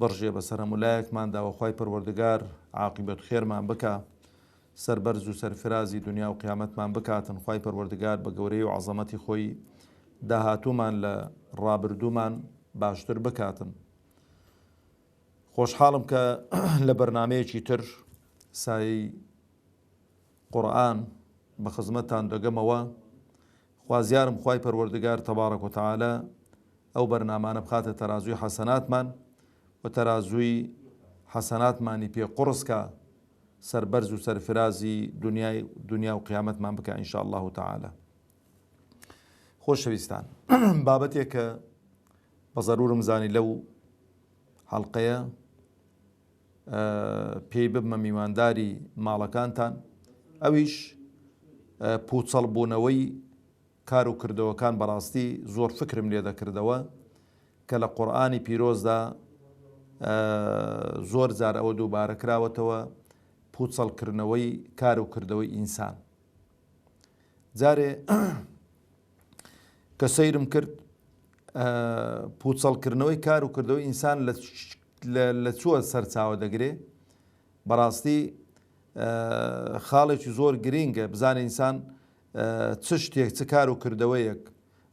بڕژێ بەسەر هەموولایەکماندا و خوای پەروەردگار عاقیبەت خێرمان بکا سەربەرز و سەرفرازی دنیا و قیامەتمان بکاتن خوای پەروەردگار بە گەورەی و عەزەمەتی خۆی داهاتوومان لە ڕابردوومان باشتر بکاتن خۆشحاڵم کە لە بەرنمەیەکی تر سایی قورآن بە خزمەتان دەگەمەوە خوازیارم خوای پەروەردگار تبارک و تعالی ئەو بەرنامانە بخاتە تەرازووی حەسەناتمان و تەرازووی حەسەناتمانی پێ قوڕس کا سەربەرز و سەرفرازی دنیای دنیا و قیامەتمان بکە ان شاء اللە تعالی خۆشەویستان بابەتێک کە بە ضرورم زانی لەو حەڵقەیە پێی ببمە میوانداری ماڵەکانتان، ئەویش پوچەڵ بوونەوەی کار و کردەوەکان بەڕاستی زۆر فکرم لێ دەکردەوە کە لە قورئانی پیرۆزدا زۆر جار ئەوە دووبارە کراوەتەوە پوچەڵکردنەوەی کار و کردەوەی ئینسان جارێ کە سەیرم کرد پوچەڵکردنەوەی کار و کردەوە ئینسان لە چووە سەرچاوە دەگرێ بەڕاستی خاڵێکی زۆر گرینگە بزانە ئینسان چ شتێک چ کار و کردەوەیەک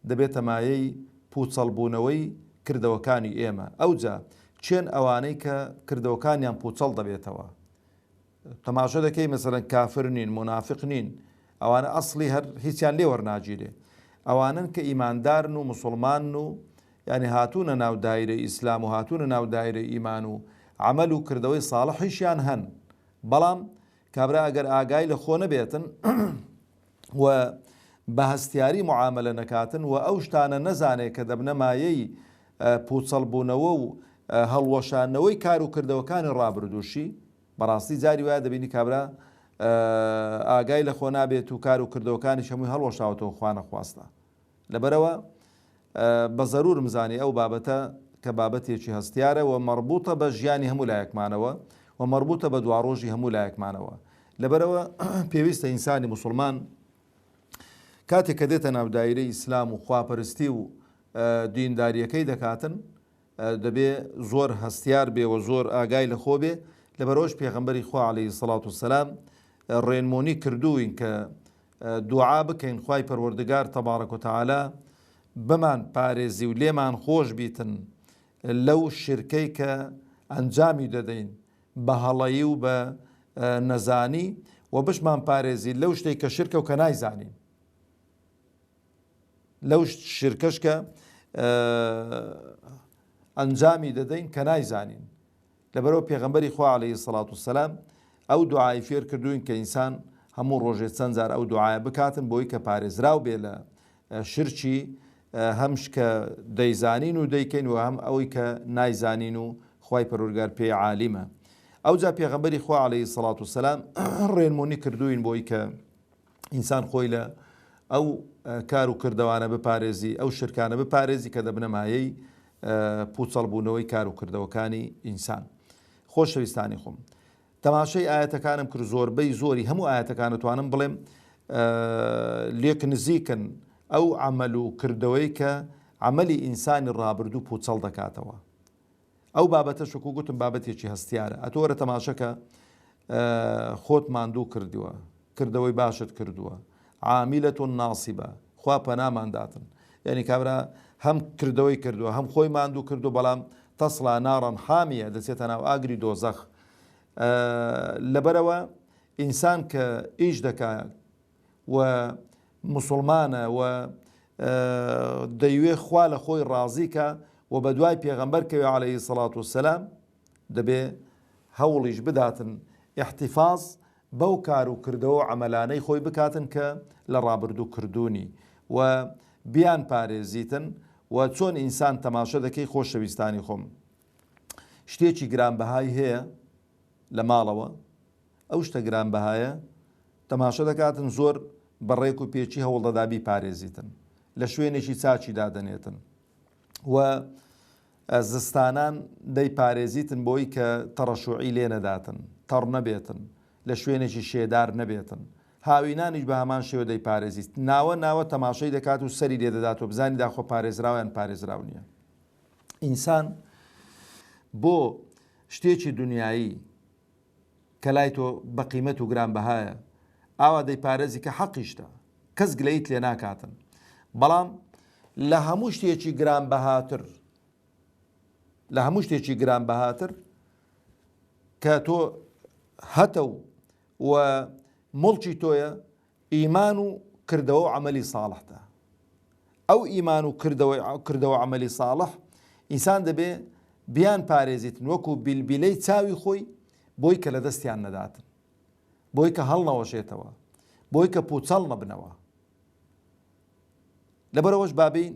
دەبێتە مایەی پوچەڵبوونەوەی کردەوەکانی ئێمە ئەوجا چێن ئەوانەی کە کردەوەکانیان پوچەڵ دەبێتەوە تەماشا دەکەی مەسەلەن کافر نین مونافق نین ئەوانە ئەسڵی هەر هیچیان لێ وەرناگیرێ ئەوانن کە ئیماندارن و مسلمانن و یعنی هاتوونە ناو دایرەی ئیسلام و هاتوونە ناو دایرەی ئیمان و عمل و کردەوەی ساڵحیشیان هەن بەڵام کابرا ئەگەر ئاگای لە خۆ نەبێتن و بە هەستیاری موعامەلە نەکاتن و ئەو شتانە نەزانێت کە دەبنە مایەی پوچەڵبوونەوە و هەڵوەشاندنەوەی کار و کردەوەکانی ڕابردووشی، بەڕاستی جاری وایە دەبینی کابرا ئاگای لە خۆ نابێت و کار و کردەوەکانیش هەمووی هەڵوەشاوەتەوە خوانەخواستە. لەبەرئەوە بە زەروورم زانی ئەو بابەتە کە بابەتێکی هەستیارە و مەڕبووتە بە ژیانی هەموو لایەکمانەوە و مەڕبووتە بە دواڕۆژی هەموو لایەکمانەوە. لەبەرئەوە پێویستە ئینسانی موسڵمان کاتێک کە دێتە ناو دایرەی ئیسلام و خواپەرستی و دینداریەکەی دەکاتن دەبێ زۆر هەستیار بێ و زۆر ئاگای لە خۆ بێ لە بەرۆژ پێغمبەری خوا عليهەی سەڵات و سەسلام ڕێنمۆنی کردوین کە دوعا بکەین خوای پەروەردگار تبارک و تعالی بمان پارێزی و لێمان خۆش بیتن لەو شرکەی کە ئەنجامی دەدەین بە هەڵەیی و بە نەزانی وە بشمان پارێزی لەو شتەی کە شرکە و کە نایزانین لەو شرکەش کە ئەنجامی دەدەین کە نایزانین لەبەرئەوە پێغەمبەری خوا علیە الصلوە و السلام ئەو دوعای فێر کردووین کە ئینسان هەموو ڕۆژێ چەند جار ئەو دوعایە بکاتن بۆی کە پارێزراو بێ لە شرچی هەمش کە دەیزانین و دەیکەین و هەم ئەوەی کە نایزانین و خی پەرۆرگار پێی عالیمە ئەو جا پێغەمبەری خوا عليهەی سەڵات و سەسلام ڕێنمونی کردوین بۆی کە ئینسان خۆی لە ئەو کار و کردەوانە بپارێزی ئەو شرکانە بپارێزی کە دەبنە مایەی پوچەڵبوونەوەی کار و کردەوەکانی ئینسان خۆشەویستانی خۆم تەماشای ئاەتەکانم کرد زۆربەی زۆری هەموو ئاەتەکانتوانم بڵێم لێک نزیکن ئەو ئەمەل و کردەوەی کە ئەمەلی ئینسانی ڕابردوو پوچەڵ دەکاتەوە ئەو بابەتەش وەکو گوتم بابەتێکی هەستیارە ئەتۆ وەرە تەماشەکە خۆت ماندوو کردووە کردەوەی باشت کردووە عامیلە تۆ ناسیبە خوا پەنامانداتن یعنی کابرا هەم کردەوەی کردووە هەم خۆی ماندوو کردو بەڵام تەسڵا ناڕەن حامیە دەچێتە ناو ئاگری دۆزەخ لەبەرەوە ئینسان کە ئیش دەکات و موسڵمانە و دەیوێ خوا لە خۆی ڕازی کا و بە دوای پێغەمبەر کەوێ عەلەیهی سەڵات و سەلام دەبێ هەوڵیش بداتن ئیحتیفاز بەو کار و کردەوە و عەمەلانەی خۆی بکاتن کە لە ڕابردوو کردوونی و بیان پارێزیتن و چۆن ئینسان تەماشە دەکەی خۆشەویستانی خۆم شتێکی گرانبەهای هەیە لە ماڵەوە ئەو شتە گرانبەهایە تەماشە دەکاتن، زۆر بە ڕێک و پێچی هەوڵدەدا بیپارێزیتن، لە شوێنێکی چاکی دادەنێتن و زستانان دەیپارێزیتن بۆی کە تەڕەشوعی لێ نەداتن، تەڕ نەبێتن، لە شوێنێکی شێدار نەبێتن. هاوینانیش بە هەمان شێوە دەیپارێزیت. ناوە ناوە تەماشەی دەکات و سەری لێ دەدات و بزانیدا خۆ پارێزراوە یان پارێزراو نییە. ئینسان بۆ شتێکی دنیایی کە لای تۆ بە قیمەت و گرانبەهایە ئاوا دەیپارێزی کە حەقیشتە کەس گلەیت لێ ناکاتن بەڵام لە هەموو شتێکی گران بەهاتر لە هەموو شتێکی گران بەهاتر کە تۆ هەتە و و مڵکی تۆیە ئیمان و کردەوە و عەمەلی ساڵحدا. ئەو ئیمان و کردەوە کردەوە و عەمەلی ساڵح ئینسان دەبێ بیان پارێزیتن وەکوو بیلبیلەی چاوی خۆی بۆی کە لە دەستیان نەداتن. بۆی کە هەڵنەوەشێتەوە. بۆی کە پووچەڵ نەبنەوە. لەبەرئەوەش با بێین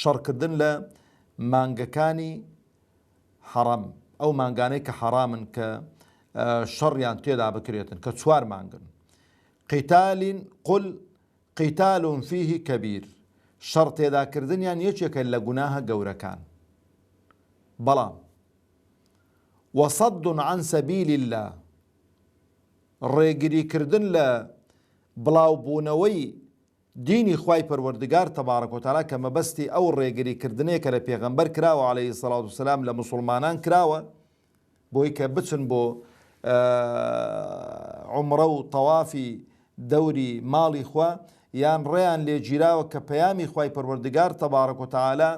شەڕکردن لە مانگەکانی حەڕەم ئەو مانگانەی کە حەڕامن کە شەڕیان تێدا بکرێتن کە چوار مانگن قیتالین قل قیتالون فیه کەبیر شەڕ تێداکردنیان یەکێکە لە گوناهە گەورەکان بەڵام وەسەد عن سەبیل الله ڕێگریکردن لە بڵاوبوونەوەی دینی خوای پەروەردگار تبارک و تعالی کە مەبەستی ئەو ڕێگری کردنەیە کە لە پێغەمبەر کراوە علیە الصلوة و السلام لە موسڵمانان کراوە بۆی کە بچن بۆ عمرە و تەوافی دەوری ماڵی خوا یان ڕێیان لێ گیراوە کە پەیامی خوای پەروەردگار تبارک و تعالی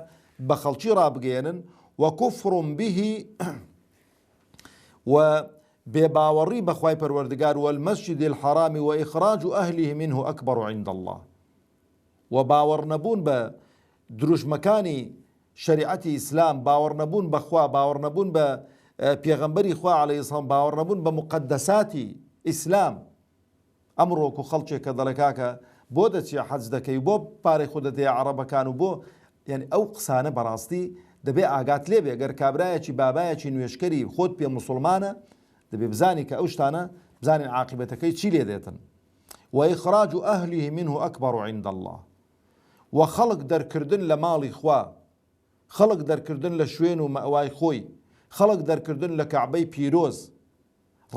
بە خەڵکی ڕابگەیەنن وکفر به و بێ باوەڕی بە خوای پەروەردگار والمسجد الحرام واخراج اهله منه اکبر عند اللە و باوەڕ نەبوون بە دروشمەکانی شەریعەتی ئیسلام باوەڕ نەبوون بە خوا باوەڕ نەبوون بە پێغەمبەری خوا عەلەیهی سڵام باوەڕ نەبوون بە موقەدەساتی ئیسلام ئەمڕۆ وەکو خەڵکێک کە دەڵێ کاکە بۆ دەچیە حەج دەکەی و بۆ پارەی خۆت دەدەیە عەڕەبەکان و بۆ یانی ئەو قسانە بەڕاستی دەبێ ئاگات لێ بێ گەر کابرایەکی بابایەکی نوێژکەری خۆت پێ موسڵمانە دەبێ بزانی کە ئەو شتانە بزانین عاقبەتەکەی چی لێ دێتن وإخراج أهله منه أكبر عند الله وخلق درکردن لە ماڵی خوا خەڵک دەرکردن لە شوێن و مەوای خۆی خەڵک دەرکردن لە کەعبەی پیرۆز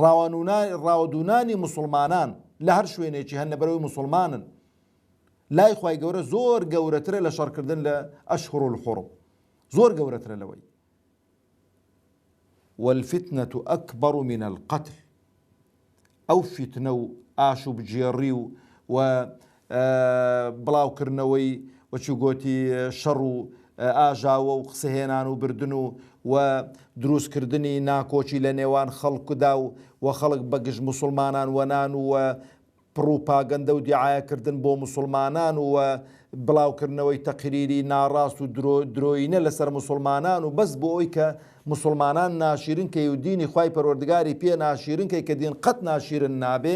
ڕاوانوونانی ڕاوەدوونانی موسڵمانان لە هەر شوێنێکی هەن لەبەر ئەوەی موسڵمانن لای خوای گەورە زۆر گەورەترە لە شەڕکردن لە ئەشهور الحرم زۆر گەورەترە لەوەی والفتنة أكبر من القتل ئەو فیتنە و ئاشوبگێڕی و و بڵاوکردنەوەی وچوگۆتی شەڕ و ئاژاوە و قسە هێنان و بردن و و دروست کردنی ناکۆکی لە نێوان خەڵک دا و و خەڵک بە گژ موسڵمانان و نان و و پڕوپاگەندە و دیعایە کردن بۆ موسڵمانان و و بڵاوکردنەوەی تەقریری ناڕاست و درۆ درۆینە لە سەر موسڵمانان و بەس بۆ ئەوی کە موسڵمانان ناشیرن کەی و دینی خوای پەروەردگاری پێ ناشیرن کەی کە دین قەت ناشیرن نابێ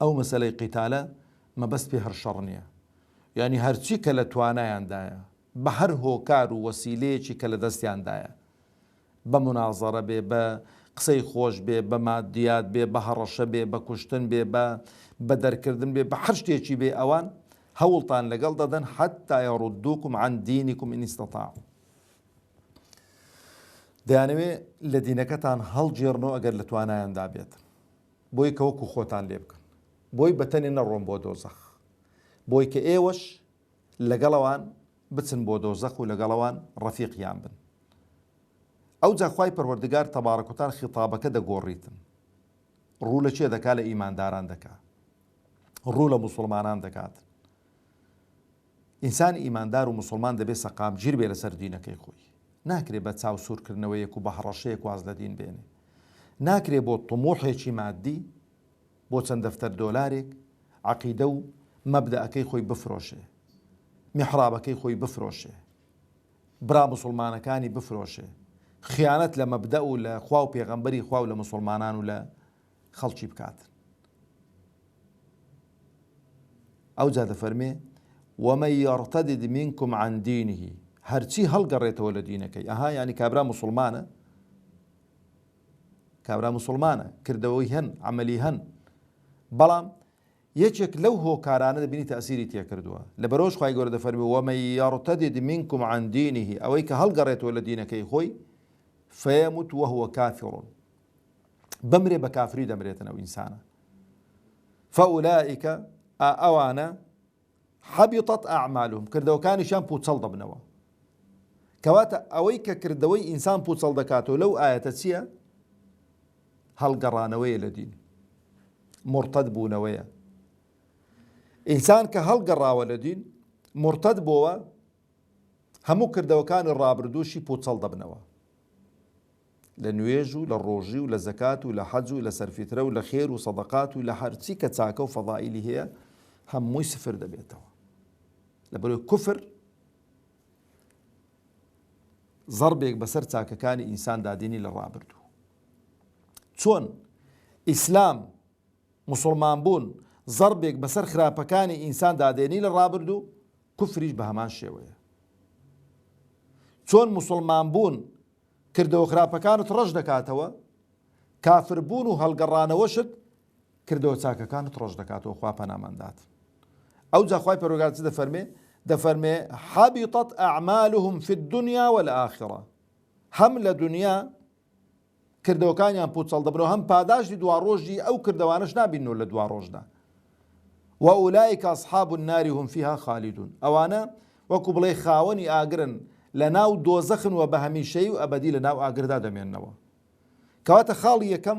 ئەو مەسەلەی قیتالە مەبەست پێ هەر شەڕ نیە یانی هەرچی کە لە توانایاندایە بە هەر هۆکار و وەسیلەیەکی کە لە دەستیاندایە بە منازەڕە بێ بە قسەی خۆش بێ بە مادیات بێ بە هەڕەشە بێ بە کوشتن بێ بە بە دەرکردن بێ بە هەر شتێکی بێ ئەوان هەوڵتان لەگەڵ دەدەن حتا یاڕودووکم عن دینیکم ئینیستەتا دەیانەوێ لە دینەکەتان هەڵگێڕنەوە ئەگەر لە توانایاندا بێت بۆی کە وەکو خۆتان لێ بکەن بۆی بە تەنێ نەڕۆن بۆ دۆزەخ بۆی کە ئێوەش لەگەڵ ئەوان بچن بۆ دۆزەخ و لەگەڵ ئەوان ڕەفیقیان بن ئەوجا خوای پەروەردگار تەبارەک و تەعالا خیتابەکە دەگۆڕیتن ڕوو لە کێ دەکا لە ئیمانداران دەکا ڕوو لە موسڵمانان دەکات ئینسانی ئیماندار و موسڵمان دەبێ سەقامگیر بێ لەسەر دینەکەی خۆی. ناکرێ بە چاو سوورکردنەوەیەک و بە هەڕەشەیەک واز لە دین بێنێ. ناکرێ بۆ طموحێکی ماددی، بۆ چەند دەفتەر دۆلارێک، عەقیدە و مەبدەئەکەی خۆی بفرۆشێ. میحڕابەکەی خۆی بفرۆشێ. برا موسڵمانەکانی بفرۆشێ. خیانەت لە مەبدەئ و لە خوا و پێغەمبەری خوا و لە موسڵمانان و لە خەڵکی بکات ئەوجا دەفەرمێ ومە یڕتەدد منکم عن دینه هەرچی هەڵگەڕێتەوە لە دینەکەی ئەها ینی کابرا مسلمانە کابرا مسلمانە کردەوەی هەن عملی هەن بەڵام یەکێک لەو هۆکارانە دەبینی تاسیری تێکردووە لە بەرۆژ خی گەۆرە دەفەرمی وەمە یاڕتەدید منکم عندینیه ئەوەی کە هەڵگەڕێتەوە لە دینەکەی خۆی فەیەموت وهوە کافڕون بمرێ بە کافری دەمرێتن ئەو ئینسانە فەولائیکە ئا ئەوانە حەبیطەت ئەعمالهم کردەوەکانیشان پوچەڵ دەبنەوە کەواتە ئەوەی کە کردەوەی ئینسان پوچەڵ دەکاتەوە لەو ئاەتە چییە؟ هەڵگەڕانەوەیە لە دین مرتد بوونەوەیە ئینسان کە هەڵگەڕاوە لە دین مرتد بۆوە هەموو کردەوەکانی ڕابردووشی پوچەڵ دەبنەوە لە نوێژ و لە ڕۆژی و لە زەکات و لە حەج و لە سەرفیترە و لە خێر و سەدەقات و لە هەرچی کە چاکە و فەضائیلی هەیە هەمووی سفر دەبێتەوە لەبەرەوەی کوفر ضربێک بەسەر چاکەکانی ئینسان دادینی لە ڕابردوو چۆن ئیسلام موسڵمان بوون زەڕبێک بەسەر خراپەکانی ئینسان دادێنی لە ڕابردوو، کوفریش بە هەمان شێوەیە. چۆن موسڵمان بوون کردەوە خراپەکانت ڕەش دەکاتەوە، کافر بوون و هەڵگەڕانەوەشت کردەوە چاکەکانت ڕەش دەکاتەوە خوا پەنامان دات. ئەوجا خوای پەروەردگار چ دەفەرمێ؟ دەفەرمێ حبطت اعمالهم فی الدنیا والآخرە هەم لە دنیا کردەوەکانیان پوچەڵ دەبنەوە هەم پاداشتی دواڕۆژی ئەو کردەوانەش نابیننەوە لە دواڕۆژدا وەئولائیک اصحاب النار هم فیها خالدون ئەوانە وەکو بڵێ خاوەنی ئاگرن لە ناو دۆزەخن و بە هەمیشەیی و ئەبەدی لە ناو ئاگردا دەمێنەوە کەواتە خاڵی یەکەم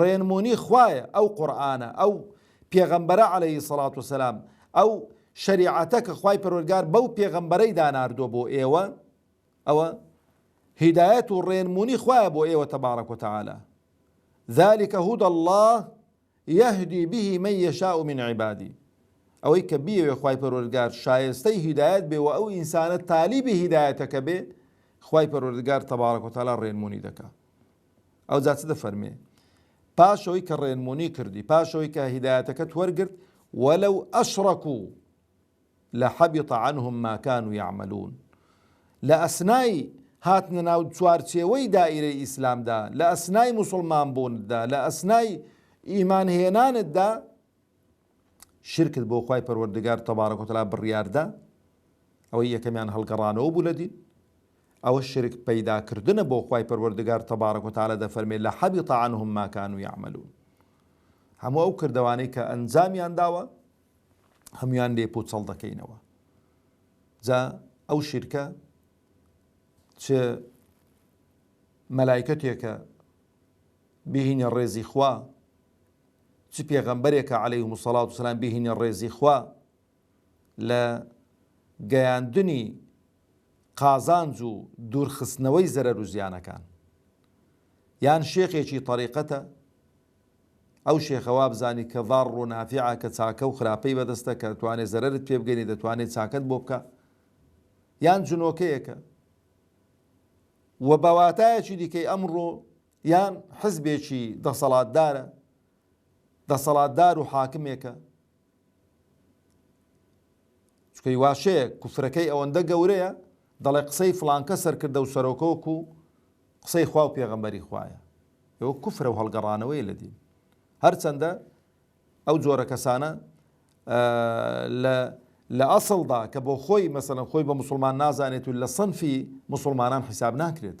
ڕێنمونی خوایە ئەو قورئانە ئەو پێغەمبەرە علیە الصلوە والسلام ئەو شەریعەتە کە خوای پەروەرگار بەو پێغەمبەرەی داناردووە بۆ ئێوە ئەوە هیدایەت و ڕێنمونی خوایە بۆ ئێوە تەبارەک و تعالی ذلك هدى الله يهدي به من يشاء من عبادي ئەوەی کە بیەوێ خی پەرۆردگار شایستەی هیدایەت بێ و ئەو ئینسانە تالیبی هیدایەتەکە بێ خی پەرۆردگار تەبارەکۆتالا ڕێنمونی دەکا ئەوجا چ دەفەرمێ پاشەوەی کە ڕێنمونی کردی پاشەوەی کە هیدایەتەکەت وەرگرت وەلو ئەشڕەکو لە حەبیط عنهم ما كانوا يعملون لە ئەسنای هاتنە ناو چوارچێوەی دائیرەی ئیسلامدا لە ئەسنای مسلمان بووندا لە ئەسنای ئیمان هێنانتدا شرکت بۆ خوای پەروەردگار تبارک و تعالی بڕیاردا، ئەوەی یەکەمیان هەڵگەڕانەوە بوو لە دین، ئەوە شرک پەیدا کردنە بۆ خوای پەروەردگار تبارک و تعالی دەفەرمێ لحبط عنهم ما کانوا یعملون هەموو ئەو کردەوانەی کە ئەنجامیان داوە هەمویان لێ پوچەڵ دەکەینەوە جا ئەو شیرکە چ مەلایکەتێکە بهینە ڕێزی خوا چ پێغەمبەرێکە علیهم الصلوة والسلام بهینی ڕێزی خوا لە گەیاندنی قازانج و دوورخستنەوەی زەرەر و زیانەکان یان شێخێکی طەریقەتە ئەو شێخە وابزانی کە ضار و نافعە کە چاکە و خراپەی بەدەستە کە توانێت زەرەرت پێ بگەنی دەتوانێت چاکەت بۆ بکە یان جنۆکەیەکە و بەواتایەکی دیکەی ئەمڕۆ یان حزبێکی دەسەڵاتدارە، دەسەڵاتدار و حاکمێکە، چونکە هی واشەیە کوفرەکەی ئەوەندە گەورەیە دەڵێ قسەی فلانکە سەرکردە و سەرۆکۆک و قسەی خوا و پێغەمبەری خوایە ئەوە کوفرە و هەڵگەڕانەوەی لە دین هەرچەندە ئەو جۆرە کەسانە لە لە ئەسڵدا کە بۆ خۆی مەسەن خۆی بە مسلمان نازانێت و لە سنفی مسلمانان حیساب ناکرێت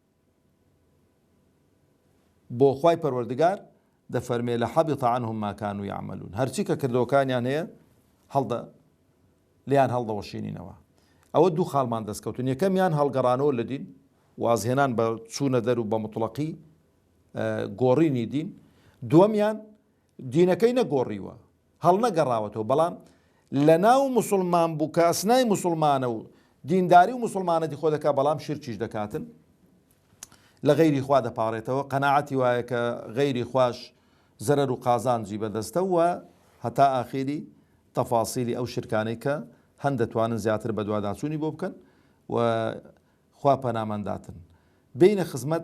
بۆ خوای پەروەردگار دەفەرمێ لحبط عنهم ما کانوا یعملون هەرچی کە کردەوەکانیان هەیە هەڵدە لێیان هەڵدەوەشینینەوە ئەوە دوو خاڵمان دەستکەوتن یەکەمیان هەڵگەڕانەوە لە دین وازهێنان بە چوونە دەر و بە مطلقی گۆڕینی دین دووەمیان دینەکەی نەگۆڕیوە هەڵنەگەڕاوەتەوە بەڵام لەناو موسڵمان بوو کە ئەسنای موسڵمانە و دینداری و موسڵمانەتی خۆ دەکات بەڵام شرکیش دەکاتن لە غەیری خوا دەپارێتەوە قەنەعەتی وایە کە غەیری خوش زەرەر و قازانجی بەدەستە و هەتا ئاخیری تەفاسیلی ئەو شرکانەی کە هەند دەتوانن زیاتر بەدواداچوونی بۆ بکەن و خوا پەنامانداتن بینە خزمەت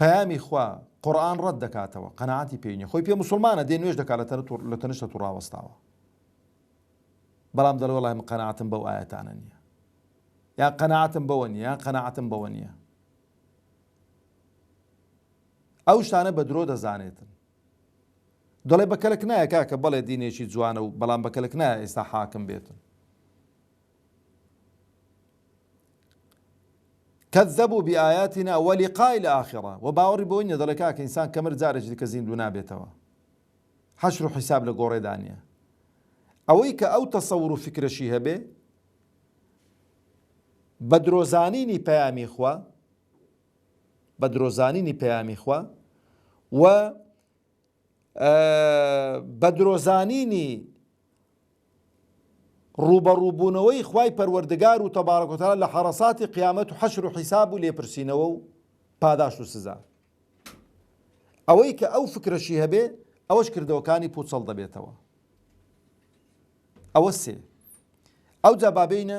پەیامی خوا قورئان ڕەت دەکاتەوە قەناعەتی پێی نیە خۆی پێ موسڵمانە دێ نوێژ دەکا لە تەنشتە تو ڕاوەستاوە بەڵام دەڵێ وەڵای من قەناعەتم بەو ئایەتانە نیە یان قەناعەتم بەوە نیە یان قەناعەتم بەوە نیە ئەو شتانە بە درۆ دەزانێتن دەڵێ بە کەلک نایە کاکە بەڵێ دینێکی جوانە و بەڵام بە کەلک نایە ئێستا حاکم بێتن کذبو بآیاتنا ولقاء الآخرە وە باوەڕی بەوەی نیە دەڵێ کاکە ئینسان کە مرد جارێکی دیکە زیندوو نابێتەوە حەشر و حیساب لە گۆڕێدا نیە ئەوەی کە ئەو تەسەور و فکرەشی هەبێ بە درۆزانینی پەیامی خوا بە درۆزانینی پەیامی خوا و بە درۆ زانینی ڕووبەڕوو بوونەوەی خوای پەروەردگار و تەبارەک و تەعالا لە حەڕەساتی قیامەت و حەشر و حیساب و لێپرسینەوە و پاداشت و سزا ئەوەی کە ئەو فکرەشی هەبێ ئەوەش کردەوەکانی پوچەڵ دەبێتەوە ئەوە سێ ئەو جابابینە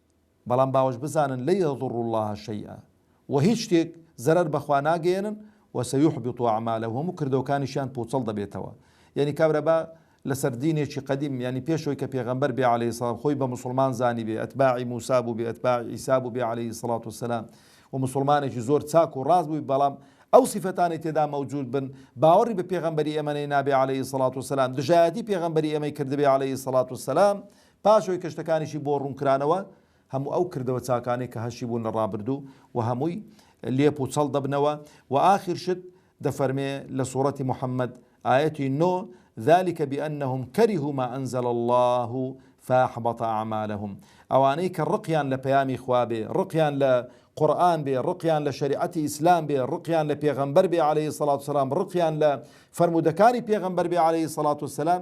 بەڵام باوەش بزانن لن یضروا اللە شیئا وە هیچ شتێک زەرەر بە خوا ناگەیەنن وە سیحبط اعمالهم هەموو کردەوەکانیشیان پوچەڵ دەبێتەوە یەنی کابرا با لەسەر دینێکی قەدیم یەنی پێش ئەوەی کە پێغەمبەر بێ علیە سلام خۆی بە موسڵمان زانیبێ ئەتباعی موسی بووبێ ئەتباعی عیسی بووبێ علیە سڵات و سلام و موسڵمانێکی زۆر چاک و ڕاست بووی بەڵام ئەو سیفەتانی تێدا مەوجود بن باوەڕی بە پێغەمبەری ئێمەی نابێ علیە سڵات و سلام دژایەتی پێغەمبەری ئێمەی کردبێ علیە سڵات و سلام پاش ئەوەی کە شتەکانیشی بۆ ڕوون کرانەوە، هەموو ئەو کردەوە چاکانەی کە هەشی بوون لە ڕابردوو و هەمووی لێپ و چەڵ دەبنەوە و ئاخر شت دەفەرمێ لە سوڕەتی محمد ئایەتی نۆ، ذلک بانهم کەرهو ما انزل اللە فاحبط اعمالهم ئەوانەی کە ڕقیان لە پەیامی خوا بێ، ڕقیان لە قورئان بێ، ڕقیان لە شەریعەتی ئیسلام بێ، ڕقیان لە پێغەمبەر بێ علیە الصلوە والسلام، ڕقیان لە فەرموودەکانی پێغەمبەر بێ علیە الصلوە والسلام،